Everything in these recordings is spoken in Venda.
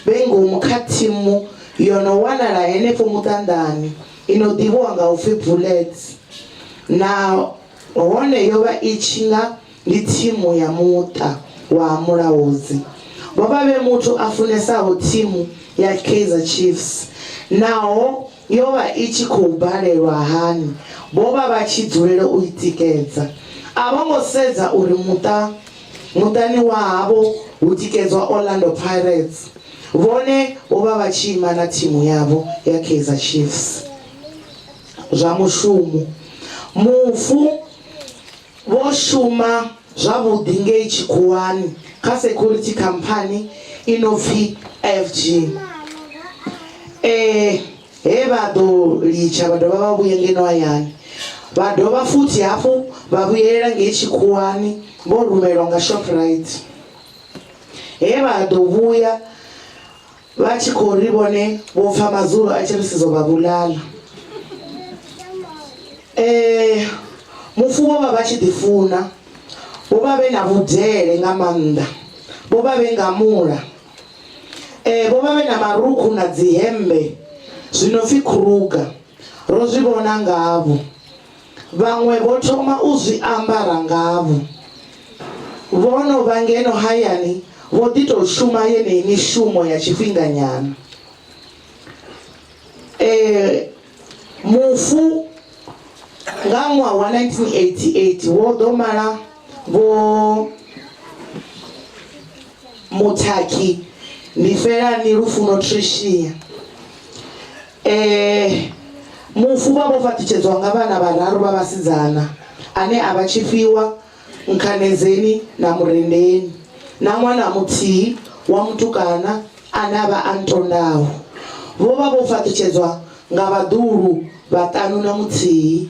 vhe ngomu kha thimu yo no wanala henefho muṱanḓani i no ḓivhiwa nga u pfi Bullets na hone yo vha i tshi nga ndi thimu ya muṱa wa Mulaudzi. Vho vha vhe muthu a funesaho thimu ya Kaizer Chiefs naho yo vha i tshi khou balelwa hani, vho vha vha tshi dzulela u i tikedza. A vho ngo sedza uri muṱa Muṱani wa havho hu tikedzwa Orlando Pirates, vhone vho vha vha tshi ima na thimu yavho ya Kaizer Chiefs. Zwa mushumo. Mufu vho shuma zwavhuḓi ngei tshikhuwani kha security khamphani i no pfi FG. E. He vha ḓo litsha vha dovha vha vhuye ngeno hayani. Vha dovha futhi hafhu vha vhuyelela ngei tshikhuwani vho rumelwa nga Shoprite. He vha ḓo vhuya vha tshi khou ri vhone vho pfa Mazulu a tshi ri sizo vha vhulala. Ee, mufu vho vha vha tshi ḓifuna. Vho vha vhe na vhudele nga maanḓa. Vho vha vhe ngamula. Ee, vho vha vhe na marukhu na dzihembe zwi no pfi khuruga, ro zwi vhona ngavho. Vhaṅwe vho thoma u zwi ambara ngavho. Vho no vha ngeno hayani vho ḓi tou shuma yeneyi mishumo ya tshifhinganyana. Ee, mufu nga ṅwaha wa 1988 wo ḓo mala Vho. Muthakhi ndi Felani Lufuno Tricia. Mufu vha vho fhaṱutshedzwa nga vhana vhararu vha vhasidzana ane a vha Tshifhiwa, Nkhanedzeni na Murendeni na ṅwana muthihi wa mutukana ane a vha Antondaho. Vho vha vho fhaṱutshedzwa nga vhaḓuhulu vhaṱanu na muthihi.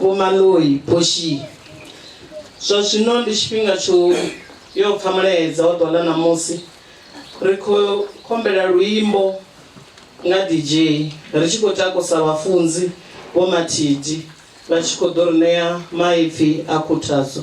Vho Maloyi Poshi, Zwa zwino ndi tshifhinga tsho yo pfa mulaedza wa ḓuvha ḽa ṋamusi. Ri khou khombela luimbo nga DJ ri tshi khou takusa vhafunzi Vho Mathidi vha tshi khou ḓo ri ṋea maipfi a khuthadzo.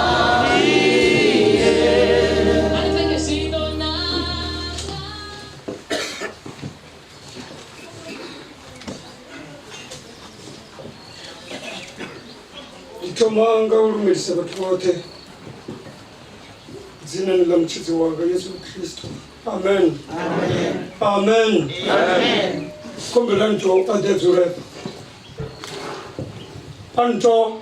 thomanga u lumelisa vhathu vhoṱhe dzinani ḽa mutshidzi wanga yesu khristo amen amen khombelani to a ḓe dzule a nto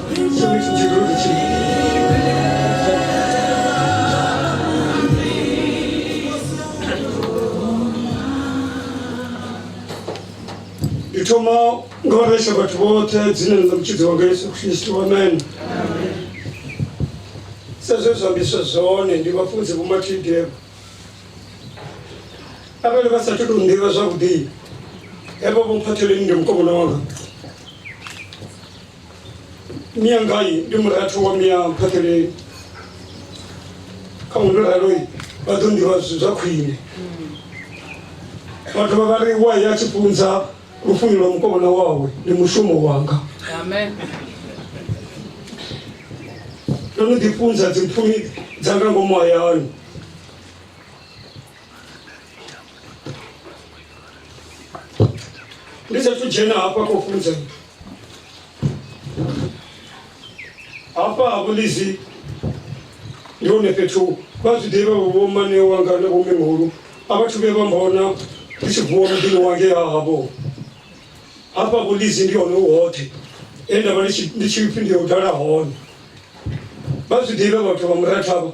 ndi thoma nga u resa vhathu vhoṱhe dzinani dza mutshidzi wanga yesu khristu amen sa zwe zwa ambiswa zwone ndi vhafunzi vhomatidem arali vha sathu tou nḓivha zwavhuḓi hevha vho mphatheleni ndi mukomana wanga mia ngai ndi murathu wa mia phatheleni kha ndo raloi vha ḓo nḓivha zwithu zwa khwine vha dovha vha ri wa ya tshipunza lufuno lwa mukovhona wawe ndi mushumo wanga amen ndo no ḓifunza dzimphumi dzanga ngomu hayani ndi sathu dzhena hafha kho funza hafha ha vhulizi ndi hone fhethu vha zwi ḓivha vho mane wanga na vhomihulu a vhathu vhe vha mbona ndi tshi vuwa muḓini wange ha havho hafha vhulizi ndi hone u hoṱhe e nda vha ndi tshi pfhi ndi ya u dala hone vha zwi ḓivha vhathu vha murathavho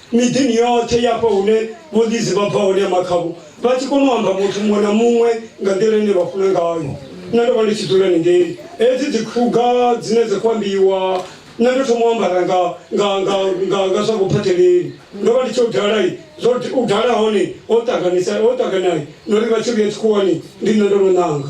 miḓini yoṱhe ya hafha hune vhondizi vha bva hone ya makhavhu vha tshi kona u amba muthu muṅwe na muṅwe nga nḓila ine vha funa ngayo nṋe ndo vha ndi tshi dzula ningei hedzi dzikhuga dzine dza khou ambiwa nṋe ndo thoma u ambara nga nga nga nga nga zwa vhuphatheleli ndo vha ndi tshi u dalai zwo u dala hone ho ṱanganisa ho ṱanganai na uri vha tshi vhuya tshikhuwani ndi nṋe ndo no ṋanga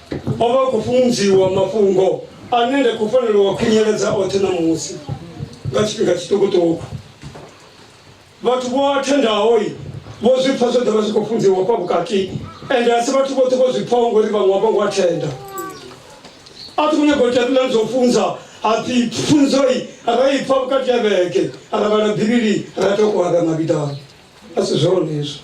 o vha khou funziwa mafhungo ane nda khou fanela wa khunyeledza oṱhe ṋamusi nga tshifhinga tshiṱukuṱuku vhathu vho athendaho vho zwi pfa zwo ḓovha zwi khou funziwa hafha vhukati ende a si vhathu vhoṱhe vho zwi pfaho ngori vhaṅwe vha ngo athenda a thi khou nyaga u tendela zwo funza hapfi pfunzoi ra i pfa vhukati ya vhege ra vhala bivhili ra tokoa ra mavhidani a si zwone hezwo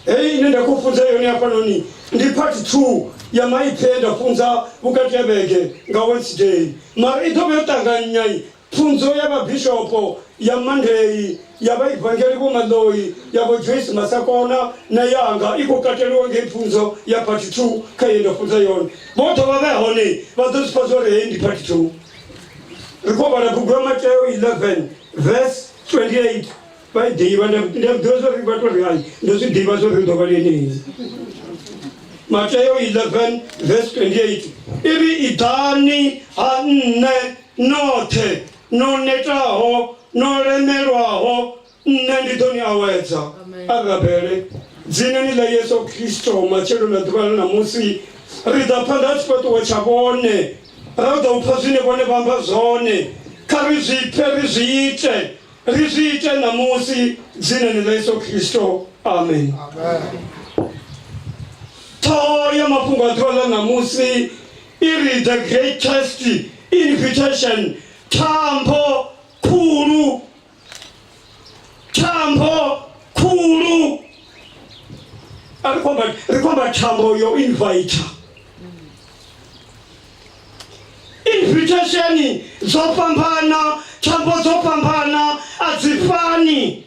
heyi ine nda khou funza yone hafhanoni ndi part two ya maipfi e nda funza vhukati ha vhege nga wednesday mara i ḓo vha yo ṱanganyai pfunzo ya vhabishopo ya monday ya vhaivangeli Vho Maloyi ya Vho Joyce Masakona na yanga i khou kateliwa ngei pfunzo ya part 2 kha ye nda funza yone. Vho ḓo vha vhe hone vha ḓo zwi pfa zwo ri heyi ndi part 2. Ri khou vhala bugu ya Mateo 11 verse 28 vha i ḓivha nda nda ḓivha zwo ri vha tou ri hai ndo zwi ḓivha zwo ri ḓo vha lenei. Mateo 11 verse 28 i ri iḓani ha nṋe noṱhe no netaho, no lemelwaho, Nṋe ndi ḓo ni awedza. A rabele dzinani ḽa Yesu Kristo matshelo na ḓuvha ḽa ṋamusi. Ri ḓa phanḓa ha tshifhaṱuwo tsha vhone, ra ḓa u pfa zwine vhone vha amba zwone. Kha ri zwi pfe, ri zwi ite. Ri zwi ite ṋamusi, dzinani ḽa Yesu Kristo. Amen. Ṱhoho ya mafhungo a ḓuvha ḽa ṋamusi I ri, The greatest invitation, thambo khulu, thambo khulu. A ri khomba, ri khomba thambo yo inviter. Invitation dzo fhambana, thambo dzo fhambana, a dzi fani.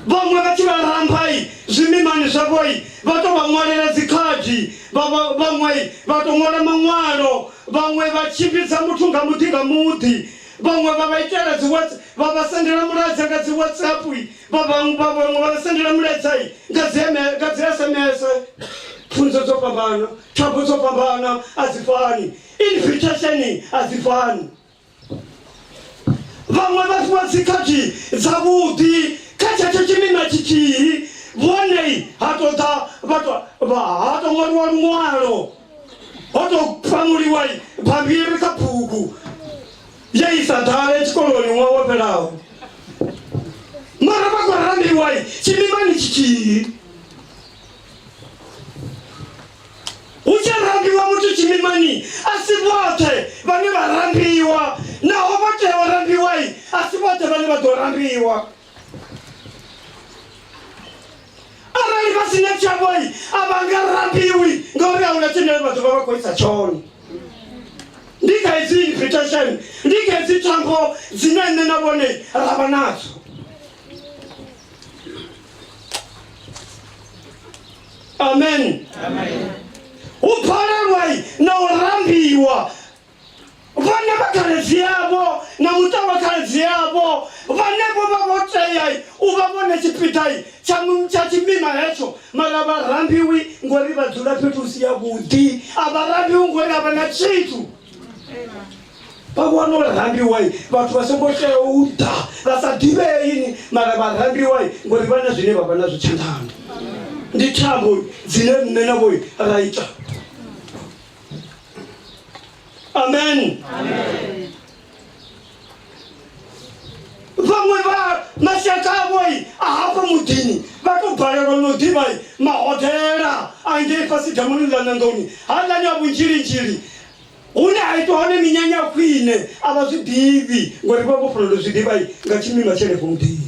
vhaṅwe vha tshi vha ramphai zwimimani zwavhoi vha tou vha ṅwalela dzikhadi vhaṅwe vha tou ṅwala maṅwalo vhaṅwe vha tshimbidza muthu nga muḓi nga muḓi vhaṅwe vha vha itela dzi vha vha sendela mulaedza nga dzi whatsapp vha vhaṅwe vha vhaṅwe vha vha sendela mulaedza nga dzi nga dzi sms pfunzo dzo fhambana thambo dzo fhambana a dzi fani invitation a dzi fani. vhaṅwe vha fhiwa dzikhakhi dzavhuḓi kha tshetsho tshimina tshithihi vhone ha to ḓa ha to ṅwaliwa luṅwalo ho to pamuliwa bammbiri kha bugu ye i sa ḓale tshikoloni ṅwaha wo fhelaho mara vha khou rambiwa tshimimani tshithihi hu tshi rambiwa muthu tshimimani a si vhoṱhe vhane vha rambiwa naho vho tea u rambiwai a si vhoṱhe vhane vha ḓo rambiwa arali vha si na tshavhoi a vha nga rambiwi ngauri a huna tshine vha ḓovha vha khou isa tshone ndi kha hedzi invitation ndi kha hedzi thambo dzine nṋe na vhone ra vha nadzo amen u phalelwa na u rambiwa vhana vha khaledzi yavho na muṱa wa khaledzi yavho vhane vho vha vho tea u vha vhone tshipiḓa tsha mu- tsha tshimima hetsho mara vha rambiwi ngori vha dzula fhethu hu si ya vhuḓi a vha rambiwi ngori a vha na tshithu vha vhona uri rambiwa vhathu vha songo tea u ḓa vha sa ḓivheini mara vha rambiwa ngori vha na zwine vha vha nazwo tshanḓani ndi thambo dzine nṋe navho ra ita amen vhaṅwe vha mashaka avhoi a hafha muḓini vha tou balelwa no ḓivha mahodela a ngei fhasi damuni ḽa nandoni haḽani a vhunzhilinzhili Hune ha itwa hone minyanya ya khwine a vha zwi ḓivhi ngori vha vho fanela u zwi ḓivha nga tshimima tsha henefho muḓini.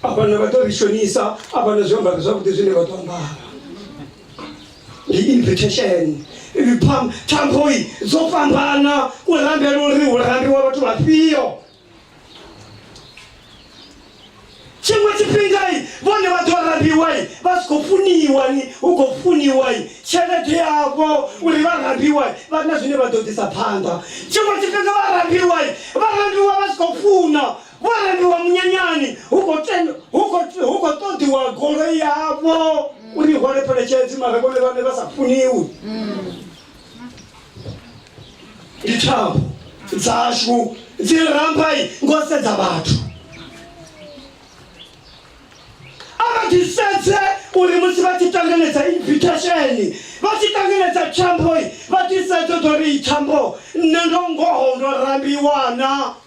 A vha na vha ḓo ri shonisa, a vha na zwiambaro zwavhuḓi zwine vha ḓo ambara. Ndi invitation thampoi dzo fhambana u rambela uri hu rambiwa vhathu vhafhio tshiṅwe tshifhingai vhone vha ḓo rabiwai vha si khou funiwani hu khou funiwai tshelede yavho uri vha rabiwai vha na zwine vha ḓo ḓisa phanḓa tshiṅwe tshifhinga vha rabiwai vha rabiwa vha si khou funa vho rabiwa munyanyani hu khou ṱoḓiwa goloi yavho uri i hwale pheletshedzi mara vhone vhane vha sa funiwi ndi thambo dzashu dzi rambai ngo sedza vhathu avatisedze uri musi vha tshi tanganedza invitation vha tshi tanganedza tshamboi vha tisedze ḓo ri i thambo nṋe ndo ngoho ndo rambiwana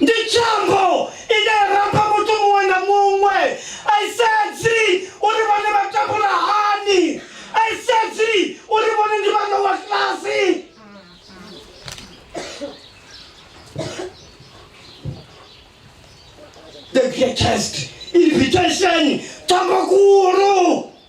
ndi chambo ine yaramba muthu muṅwe na muṅwe aisedzi uri vhone vha takula hani aisedzi uri vhone ndi vha lowa klasi the greatest invitation chambo kulu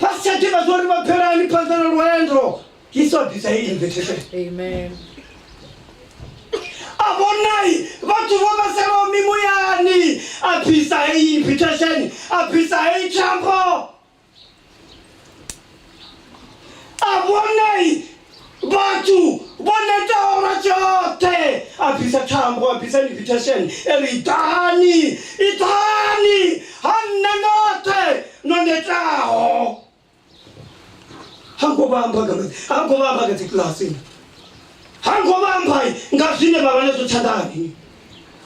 vhasi tsha ḓivha zwa uri vha phelani phanḓa na lwendo yesu a bvisa heyi invitation Amen. a vhonai vhathu vho vhaselaho mimoyani a bvisa heyi invitation a bvisa heyi thambo a vhonai vhathu vho netaho lwa tshoṱhe a bvisa thambo a bvisa invitation e ri iḓani iḓani ha nṋe noṱhe no netaho ha ngo vha amba nga maḓi ha ngo vha amba nga dzikilasini ha ngo vha amba nga zwine vha vha nazwo tshanḓani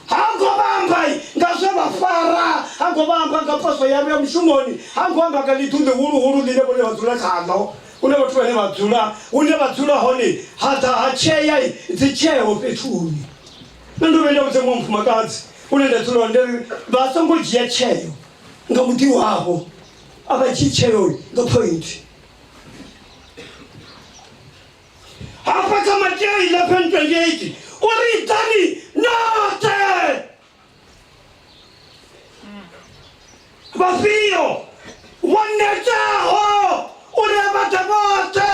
ha ngo vha amba nga zwe vha fara ha ngo vha amba nga poswo yavho ya mushumoni ha ngo amba nga ḽiḓu ḽihuluhulu ḽine vhone vha dzula khaḽo hune vhathu vhane vha dzula hune vha dzula hone ha ḓa ha tshea dzi tsheo fhethuni na ndo vhe nda vhudza muṅwe mufumakadzi une nda dzula hone ri vha songo dzhia tsheo nga muḓi wavho a vha dzhii tsheo nga point hafha kha matea 1128 uri ḓani noṱhe vhafhio vho netaho uri vha ḓe vhoṱhe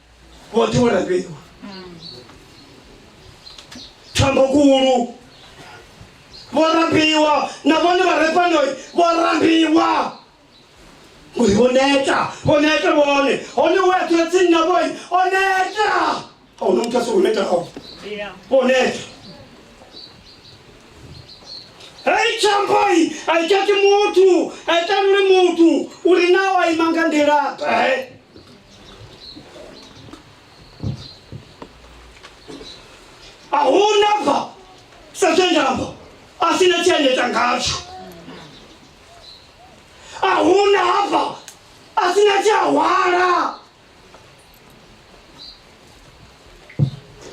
vhoṱhe vho lafhiwa thambokulu vho rambiwa na vhone vha re fhano vho rambiwa uri vho neta vho neta vhone hone u eṱula tsini na vhoi o neta a huna muthu a songo netaho vho neta hei tshampoi a i tshati muthu a i taluli muthu uri na o a ima nga nḓilaṱe ahuna bva sa zwe ndamba a si na tshiendedza ngatsho ahuna hafha a si na tshiahwala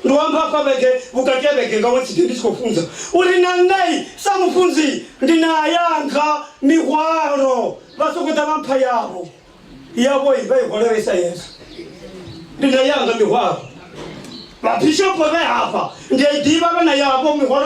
ndi wamba hafha vhege vhukati ha vhege nga ṅwedzi ndi ndi tshi khou funza uri na nṋei sa mufunzi ndi na yanga mihwalo vha sokou ḓa vha mpha yavho yavho i vha i khou lavhelesa yesu ndi na yanga mihwalo vhabishopo vhe hafha ndi a i ḓivha vha na yavho mihwalo